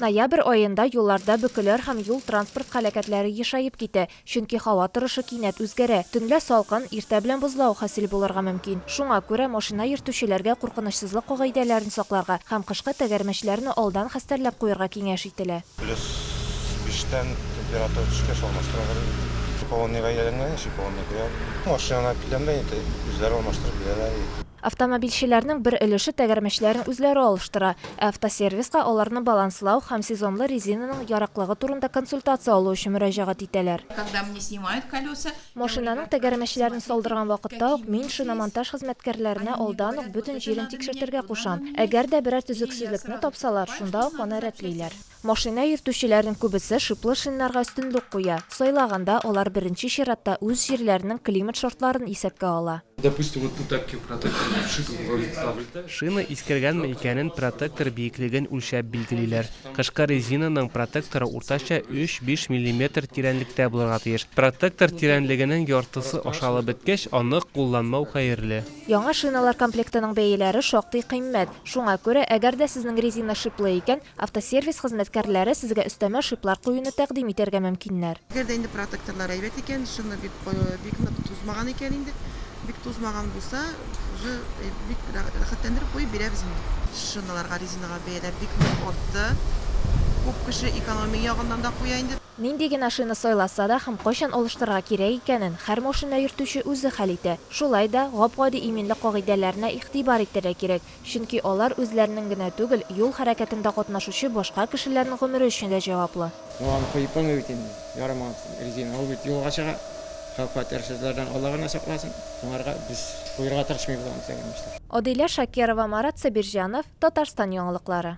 Ноябрь аенда юлларда бөкеләр һәм юл-транспорт һәлакәтләре ешаеп китә, чөнки һава торышы кинәт үзгәрә. Төнлә салкын, иртә белән бозлавык хасил булырга мөмкин. Шуңа күрә машина йөртүчеләргә куркынычсызлык кагыйдәләрен сакларга һәм кышкы тәгәрмәчләрне алдан хәстәрләп куярга киңәш ителә. Плюс биштән температура төшкәч алмаштыра бирәләр. Шиповонныйга әйләнгәнче шиповонный куябыз. Машинаны әйткәндә инде үзләре алмаштырып бирәләр. Автомобильчеләрнең бер өлеше тәгәрмәчләрен үзләре алыштыра, ә автосервиска аларны баланслау һәм сезонлы резинаның яраклыгы турында консультация алу өчен мөрәҗәгать итәләр. Машинаның тәгәрмәчләрен салдырган вакытта ук мин шиномонтаж хезмәткәрләренә алдан ук бөтен җирен тикшертергә кушам. Әгәр дә берәр төзексезлекне тапсалар, шунда ук аны рәтлиләр. Машина йөртүчеләрнең күбесе шиплы шиннарга өстенлек куя, сайлаганда алар беренче чиратта үз җирләренең климат шартларын исәпкә ала. Допустим, вот тут такие протекторы вшиты в ролик ставлю. Шина искергәнме икәнен протектор биеклеген үлчәп билгелиләр. Кышкы резинаның протекторы уртача өч-биш миллиметр тирәнлектә булырга тиеш. Протектор тирәнлегенең яртысы ашалып беткәч, аны кулланмау хәерле. Яңа шиналар комплектының бәяләре шактый кыйммәт. Шуңа күрә, әгәр дә сезнең резина шиплы икән, Автосервис хезмәткәрләре сезгә өстәмә шиплар куюны тәкъдим итәргә мөмкиннәр. Әгәр дә инде протекторлар әйбәт икән, шина бик бик нык тузмаган икән инде, бик тузмаган булса, уже бик рәхәтләндереп куеп бирәбез инде. Шиналарга, резинага бәяләр бик нык артты. Күп кеше экономия ягыннан да куя инде. Нинди генә шина сайласа да һәм кайчан алыштырырга кирәк икәнен һәр машина йөртүче үзе хәл итә. Шулай да, гап-гади иминлек кагыйдәләренә игътибар итәргә кирәк. Чөнки алар үзләренең генә түгел, юл хәрәкәтендә катнашучы башка кешеләрнең гомере өчен дә җаваплы. Ну аны коеп булмый бит инде, ярамаган резина, ул бит юлга чыга, хәвеф-хәтәр сүзләрдән Алла гына сакласын, аңарга без куерга тырышмыйбыз аны, тәгәрмәчләп. Адилә Шакирова, Марат Сабирҗанов, Татарстан яңалыклары.